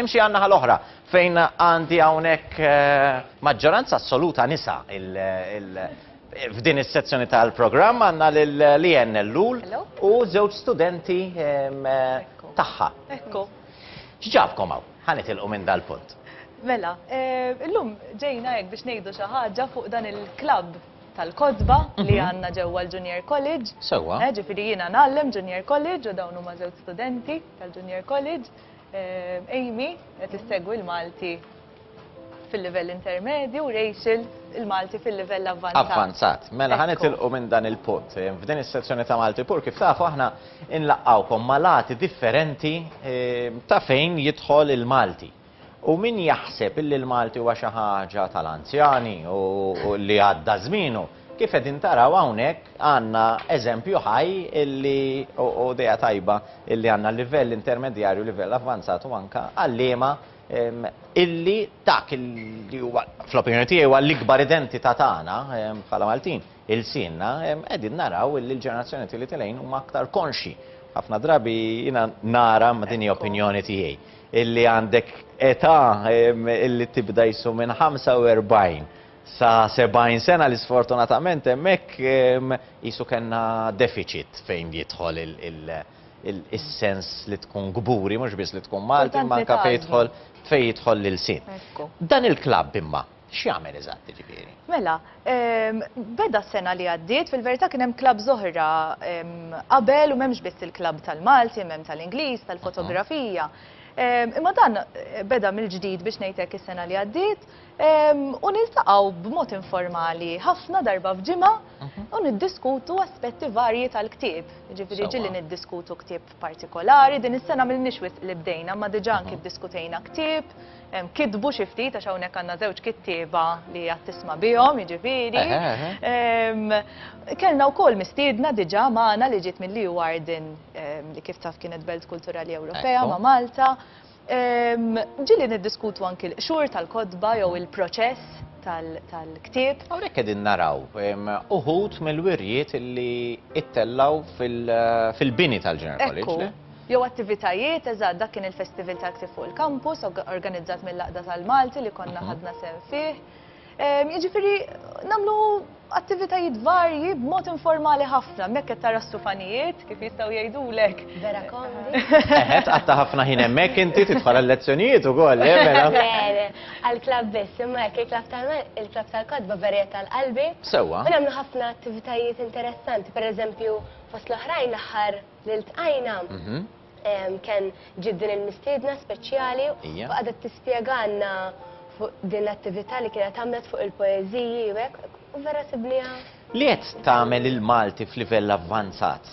Nimxi għan-naħa l-oħra fejn għandi hawnhekk maġġoranza assoluta nisa f'din is-sezzjoni tal-programm għandna lil Leanne Ellul u żewġ studenti tagħha. Ekku. X'ġabkom hawn? Ħa nitilqu minn dal-punt. Mela, illum ġejna hekk biex ngħidu xi ħaġa fuq dan il-klabb tal-kotba li għandna ġewwa l-Junior College. Sewwa. Ġifieri jiena ngħallem Junior College u dawn huma żewġ studenti tal-Junior College. Amy qed issegwi l-Malti fil-livell intermedju u Rachel il-Malti fil-livell avvanzat. Avvanzat. Mela ħan itilqu minn dan il-punt. Eh, f'din is-sezzjoni ta' Malti Pur kif tafu aħna nlaqqawkom malati differenti eh, ta' fejn jidħol il-Malti. U min jaħseb illi l-Malti huwa xi ħaġa tal-anzjani u li għadda żmienu. Kif qegħdin taraw hawnhekk għandna eżempju ħaj illi u idea tajba illi għandna livell intermedjarju, livell avvanzat u anke għalliema illi dak li huwa fl-opinjoni tiegħi huwa l-ikbar identità tagħna bħala Maltin il-sinna qegħdin naraw illi l-ġenerazzjoni tieli tilejn huma aktar konxi. Ħafna drabi jiena nara ma' din opinjoni tiegħi illi għandek età illi tibda jissu minn 45 sa 70 sena li sfortunatament hemmhekk qisu kellna deficit fejn jidħol is-sens li tkun kburi, mhux biss li tkun Malti, imma anke fejn jidħol fejn jidħol l-ilsien. Dan il-klabb imma x'jagħmel eżatt jiġifieri? Mela, beda s-sena li għaddiet, fil-verità kien hemm klabb oħra qabel u m'hemmx biss il-klabb tal-Malti, hemm tal-Ingliż, tal-fotografija. Imma dan beda mill-ġdid biex ngħidlek is-sena li għaddiet, u niltaqgħu b'mod informali ħafna darba f'ġimgħa mhm. u niddiskutu aspetti varji tal-ktieb. Ġifieri ġili niddiskutu ktieb partikolari, din is-sena m'ilniex wisq li bdejna, ma diġà anki mhm. ddiskutejna ktieb, kitbu xi ftit għax hawnhekk għandna żewġ kittieba li għad tisma' bihom, jiġifieri. Kellna wkoll mistiedna diġà magħna li ġiet mill-Leeuwarden li kif taf kienet Belt Kulturali Ewropea ma' Malta. Ġieli niddiskutu anki l-qxur tal-kotba jew il-proċess tal-ktieb. Hawnhekk qegħdin naraw uħud mill-wirjiet li ittellgħu fil-bini tal-Junior College. Jew attivitajiet, eżatt, dak kien il-Festival tal-Ktieb fuq il-Kampus, organizzat mill-Għaqda tal-Malti li konna ħadna sehem fih. Jiġifieri nagħmlu attivitajiet varji b'mod informali ħafna, mekk qed tara stufanijiet kif jistgħu jgħidulek. Vera kondi. Eħe, tqatta' ħafna ħin hemmhekk inti tidħol għall-lezzjonijiet ukoll, le mela. Għall-klabb biss, imma hekk il-klabb tal-kotba verjet tal-qalbi. Sewwa. U nagħmlu ħafna attivitajiet interessanti, pereżempju fost l-oħrajn l-aħħar li ltqajna kien ġiet din il-mistiedna speċjali u qagħdet tispjegalna fuq din l-attività li kienet għamlet fuq il-poeżiji u hekk u vera sibniha. Li qed tagħmel il-Malti f'livell avvanzat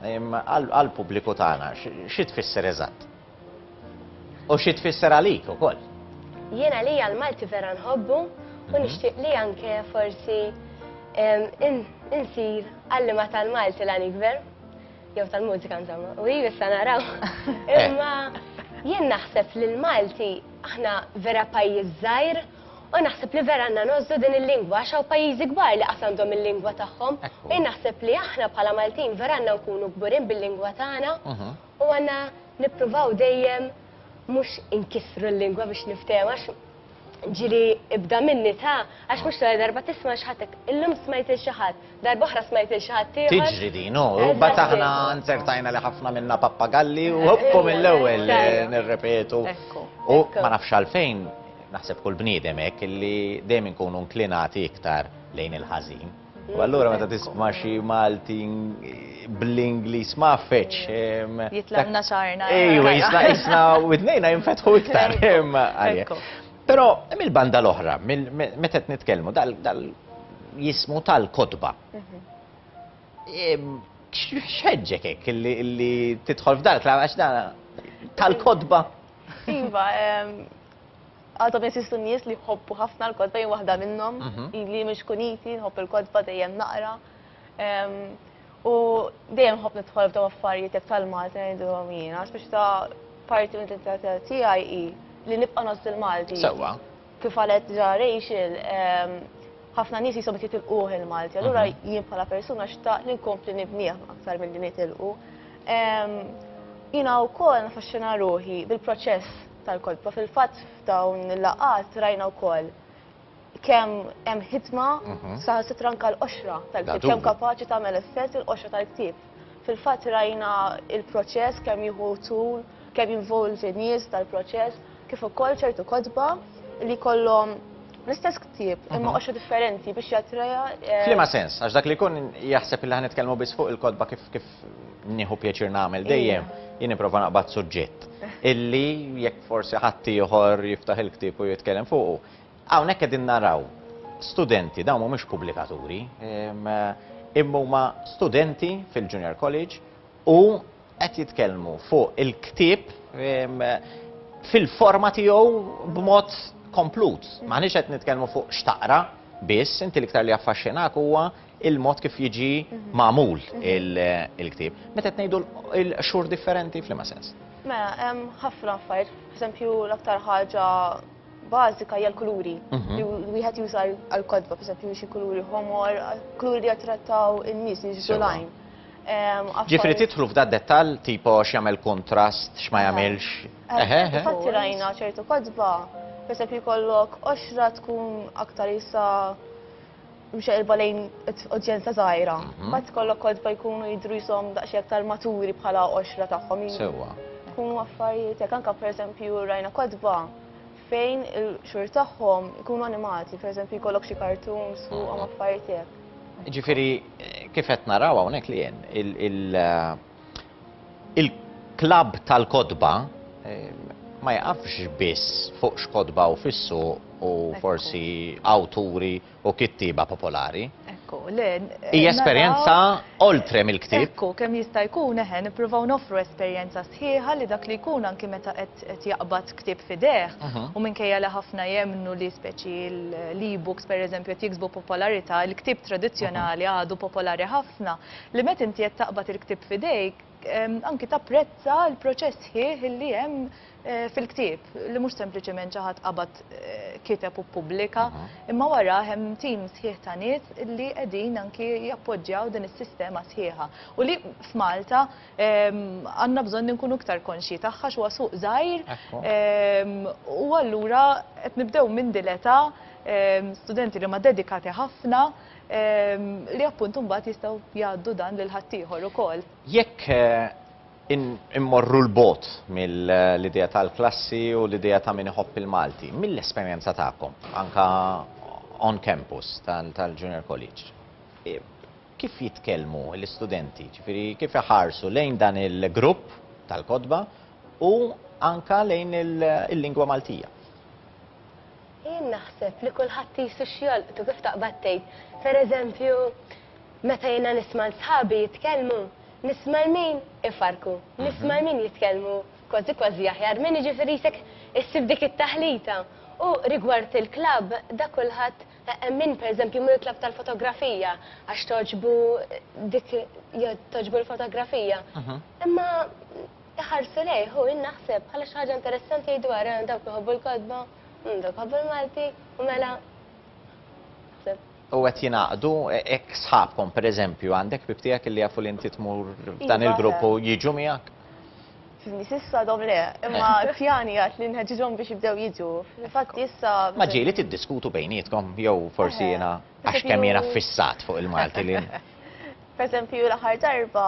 għall-pubbliku tagħna xi tfisser eżatt? U xi tfisser għalik ukoll. Jien għalija l-Malti vera nħobbu u mhm. nixtieq li anke forsi insir għallima tal-Malti l ikber, jew tal-mużika insomma, u jien issa naraw. Eh. Imma jien naħseb li l-Malti aħna vera pajjiż żgħir u naħseb li vera għandna nożdu din il-lingwa għax hawn pajjiżi kbar li qas għandhom il-lingwa tagħhom. Jien naħseb li aħna bħala Maltin vera għandna nkunu kburin bil-lingwa tagħna mhm. U għandna nippruvaw dejjem mhux inkissru l-lingwa biex niftehmu għax ġieli ibda minni ta' għax mhux l-ewwel darba tisma' xi ħadd illum smajt lil xi ħadd, darba oħra smajt lil xi ħadd ieħor. Tiġri din, u mbagħad aħna nzertajna li ħafna minna pappagalli u hoppu mill-ewwel nirrepetu. U ma nafx għalfejn naħseb kull bniedem hekk li dejjem inkunu nklinati iktar lejn il-ħażin. U allura meta tisma' xi Malti bl-Ingliż ma fetx. Jitlaqna xarna. Ejwa, jisna widnejna jinfetħu iktar. Però mill-banda l-oħra, meta qed nitkellmu dal jismu tal-kotba. X'ħeġġek hekk li tidħol f'dal klamm għax dan tal-kotba? Iva, Għadhom jeżistu nies li jħobbu ħafna l-kotba, jien waħda minnhom, ili mhux kuniti, nħobb il-kotba dejjem naqra. U dejjem nħobb nidħol f'dawn affarijiet jekk tal-Malti ngħidulhom jiena, biex ta' parti mill-identità tiegħi hi li nibqa' nozz il-Malti. Sewwa. Kif qalet ġa Rachel, ħafna nies qishom qed jitilquh il-Malti, allura jien bħala persuna xtaqt li nkompli nibnieh aktar milli nitilqu. Jiena wkoll naffaxxina ruħi bil-proċess. tal-kolpa. Fil-fatt f'dawn il-laqgħat rajna wkoll kemm hemm ħidma saħansitra anke l-qoxra tal-ktieb, kemm kapaċi tagħmel effett il-qoxra tal-ktieb. Fil-fatt rajna l-proċess kemm jieħu tul, kemm jinvolvi nies dal-proċess, kif ukoll ċertu kotba li jkollhom l-istess ktieb imma qoxra differenti biex jattreja. F'liema sens? Għax dak li jkun jaħseb li ħa nitkellmu biss fuq il-kotba kif nieħu pjaċir nagħmel dejjem, jien nipprova naqbad suġġett illi jekk forsi ħadd ieħor jiftaħ il-ktieb u jitkellem fuqu. Hawnhekk qegħdin naraw studenti, dawn mhumiex pubblikaturi, imma huma studenti fil-Junior College u qed jitkellmu fuq il-ktieb fil-forma tiegħu b'mod komplut. Maħniex qed nitkellmu fuq x'taqra biss, inti l-iktar li affaxxinak huwa il-mod kif jiġi magħmul il-ktieb. Meta qed ngħidu l-qxur differenti f'liema sens? Mela, hemm ħafna affarijiet, pereżempju l-aktar ħaġa bażika hija l-kuluri. Mhm. Li wieħed juża għall-kodba, pereżempju xi kuluri ħomor, kuluri li jattrattaw in-nies, jiġu lajn. Ġifri titħlu f'da dettal tipo x'jagħmel kontrast, x'ma jagħmilx. Fatti rajna ċertu kodba, pereżempju jkollok oxra tkun aktar jisa' mxejrba lejn udjenza żgħira. Mhm. Mbagħad kollok kodba jkunu jidru jisom daqsxejn aktar maturi bħala għoxra tagħhom. Sewwa. Jkunu affarijiet jekk anke pereżempju rajna kodba fejn il-xhur tagħhom ikunu animati, pereżempju jkollok xi kartuns fuqhom mhm. affarijiet hekk. Ġifieri kif qed naraw hawnhekk li il- eh, Il-klabb tal-kotba ma jaqafx biss fuq x'kotba hu fis-suq u forsi awturi u kittieba popolari. Ekku, le. Hija esperjenza oltre mill-ktieb. Ekku, kemm jista' jkun, eħe, nippruvaw noffru esperjenza sħiħa li dak li jkun anki meta qed jaqbad ktieb f'idejh, u minkejja li ħafna jemmnu li speċi l-e-books, pereżempju, qed jiksbu popolarità, il-ktieb tradizzjonali għadu popolari ħafna. Li meta inti qed taqbad il-ktieb f'idejk, anki tapprezza l-proċess sħiħ li hemm fil-ktieb, li mhux sempliċement xi ħadd qabad kiteb u ppubblika, imma warah hemm tim sħiħ ta' nies li qegħdin anki jappoġġjaw din is-sistema sħiħa. U li f'Malta għandna bżonn inkunu iktar konxji tagħha għax huwa suq żgħir u allura qed nibdew minn din l-età studenti li huma dedikati ħafna, li appunt imbagħad jistgħu jgħaddu dan lil ħaddieħor ukoll. Jekk immorru l-bot mill-idea tal-klassi u l-idea ta' min iħobb il-Malti, mill-esperjenza tagħkom, anka on campus tal-Junior College, kif jitkellmu l-istudenti, ġifiri kif iħarsu lejn dan il-grupp tal-kodba u anka lejn il-lingwa Maltija? Jien naħseb li kulħadd qisu x'jolqtu kif taqbad tgħid. Per eżempju, meta jiena nisma' 'l sħabi jitkellmu, nisma' 'l min ifarrku, nisma' 'l min jitkellmu kważi kważi aħjar minn, jiġifieri jisek issib dik it-taħlita. U rigward il-klabb, dak kulħadd, hemm min per eżempju jmur il-klabb tal-fotografija għax togħġbu dik, togħġbu l-fotografija. Imma Iħarsu lejh u jien naħseb bħala xi ħaġa interessanti jgħidu ara dawk li jħobbu l-kotba, mm dawk iħobbu l-Malti u mela naħseb. U qed jingħaqdu hekk sħabkom pereżempju għandek ħbieb tiegħek li jafu li inti tmur f'dan iva, il-grupp u jiġu miegħek? Fiżni sissa dom le, imma eh. pjani għat li nħeġġhom biex jibdew jiġu. Infatti issa. Ma ġieli tiddiskutu bejnietkom jew forsi eh. jiena għax kemm jiena fissat fuq il-Malti li Per eżempju, l-aħħar darba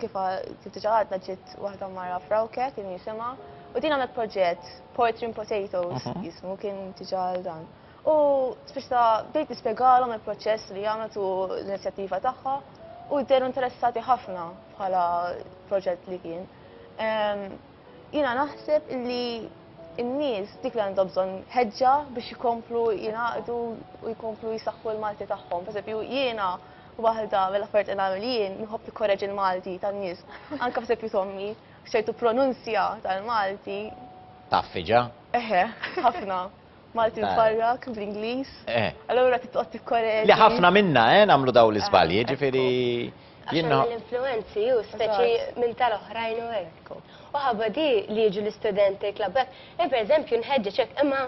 kif kif diġà għadna ġiet waħda mara frawke kien jisimha u din għamlet proġett Portrin Potatoes mhm. jismu kien diġà għal dan. U spiċta bdejt nispjegalhom il-proċess li għamlet u l-inizjattiva tagħha u dderu interessati ħafna bħala proġett li kien. Jina naħseb li n-nies dik li għandhom bżonn ħeġġa biex jkomplu jingħaqdu u jkomplu jisaħħu l-Malti tagħhom. Per jiena Waħda mill-affarijiet li nagħmel jien nħobb nikkoreġi l-Malti tan-nies, anke f'eżempju t'ommi, f'ċertu pronunzja tal-Malti. Taffi ġa? Eħe, ħafna. Malti mfarrak bl-Ingliż. Eh. Allura trid toqgħod tikkoreġi. Li ħafna minna, eh, nagħmlu dawn l-iżbalji, ġifieri jien. Għax l-influenzi hu speċi minn tal-oħrajn u hekk. U ħabba di li jiġu l-istudenti klabbek, jien pereżempju nħeġġeġ hekk imma.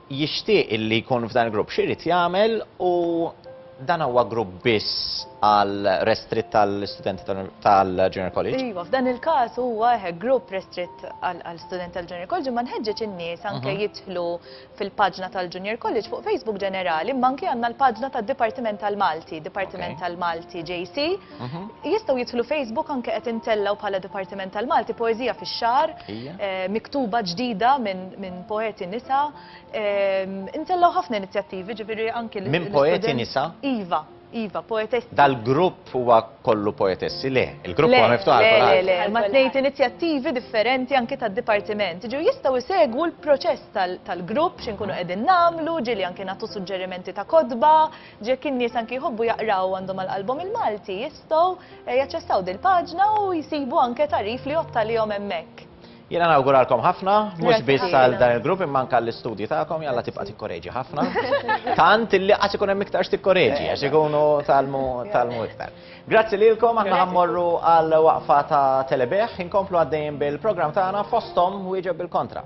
jixtieq li jkun f'dan il-grupp, x'irid jagħmel u dan huwa grupp biss għal restritt tal-istudenti tal-Junior College? Iva, f'dan il-każ huwa eħe grupp restritt għal studenti tal-Junior College imma nħeġġeġ in-nies anke jidħlu fil-paġna tal-Junior College fuq Facebook ġenerali imma anke għandna l-paġna tad-Dipartiment tal-Malti, Dipartiment tal-Malti JC. Jistgħu jidħlu Facebook anke qed intellgħu bħala Dipartiment tal-Malti poeżija fix-xahar, miktuba ġdida minn poeti nisa. Intellgħu ħafna inizjattivi, ġifieri anki l- Minn poeti nisa? Iva, iva, poetessi. Dal-grupp huwa kollu poetessi? Le, il-grupp huwa miftuħ għal kulħadd. Le, le, le, imma tnejt inizjattivi differenti anki tad-Dipartiment. Jiġifieri jistgħu jsegwu l-proċess tal-grupp, xi nkunu qegħdin nagħmlu, ġieli anki nagħtu suġġerimenti ta' kotba, Jekk in-nies anki jħobbu jaqraw u għandhom għal qalbhom il-Malti, jistgħu jaċċessaw dil-paġna u jsibu anke tagħrif li jgħodd għalihom hemmhekk. Jiena nawguralkom ħafna, mhux biss għal dan il-grupp imma anke għall-istudji tagħkom, jalla tibqa' tikkoreġi ħafna. Tant illi qatt ikun hemm iktar x'tikkoreġi għax ikunu talmu talmu iktar. Grazzi lilkom aħna ħammorru għal waqfa ta' telebeħ, inkomplu għaddejjin bil-programm tagħna fosthom wieġeb bil-kontra.